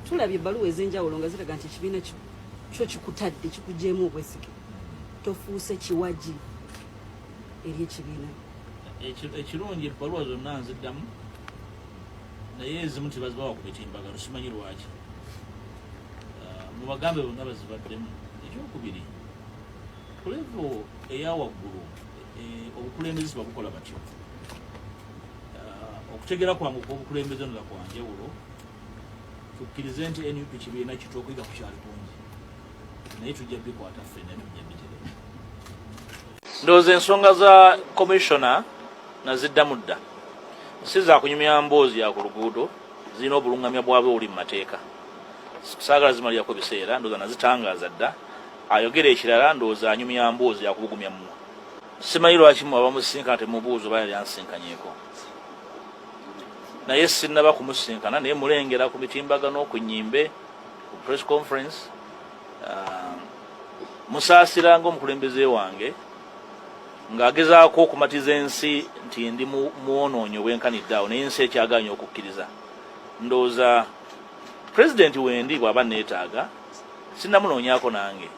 Tulabye ebbaluwa ez'enjawulo nga ziraga nti ekibiina kyo kyo kikutadde kikujeemu obwesige tofuuse kiwagi eri ekibiina ekirungi ebbaluwa zonna nziddamu naye ezimu tebazibawa ku mitimbagano simanyi lwaki ah, mubagambe bonna bazibaddemu ekyokubiri kulevo eyawaggulu eh, obukulembeze sibabukola batyo ah, okutegera kwange okwobukulembeze nolakwanjawulo tukkirize nti nup kibiina kitu okuyiga ku kyali kungi naye tujja bikwata ffe naye tujja biterera ndowooza ensonga za komishona naziddamu dda si za kunyumya mboozi ya ku luguudo zirina obulungamya bwabwe obuli mu mateeka saagala zimalirako biseera ndowooza nazitangaaza dda ayogera ekirala ndowooza anyumya mboozi yakubugumya mu simanyi lwaki mwe abamusisinkana temubuuza oba yali ansinkanyeko naye sinnaba kumusisinkana naye mulengera ku mitimbagano ku nyimbe ku press conference uh, musaasira nga omukulembeze wange ng'agezaako okumatiza ensi nti ndi mwonoonyi obwenkanidde awo naye ensi ekyaganya okukkiriza ndowooza pulezidenti wendi bw'aba neetaaga sinnamunoonyako nange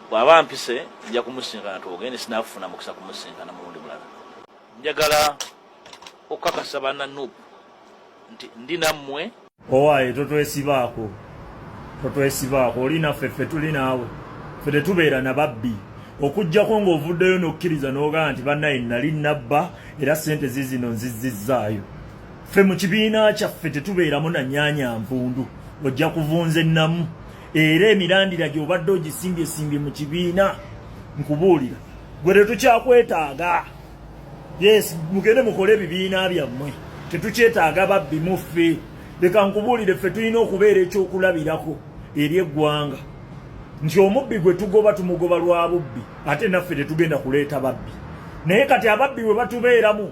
bw'aba mpise nja kumusinkana twogende sinafuna mukisa kumusinkana mulundi mulala njagala okukakasa bana nup nti ndi nammwe owaye totwesibaako totwesibaako oli naffe ffe tuli naawe ffe tetubeera na babbi okujjako ng'ovuddeyo n'okkiriza n'ogaa nti bannaye nali nabba era ssente zizino nzizizzaayo ffe mu kibiina kyaffe tetubeeramu na nyaanya nvundu ojja kuvunza ennamu era emirandira gy'obadde ogisimbye-simbye mu kibiina nkubuulira gwe tetukyakwetaaga yes mugende mukole ebibiina byammwe tetukyetaaga babbi muffe leka nkubuulire ffe tulina okubeera ekyokulabirako eri eggwanga nti omubbi gwe tugoba tumugoba lwa bubbi ate naffe tetugenda kuleeta babbi naye kati ababbi bwe batubeeramu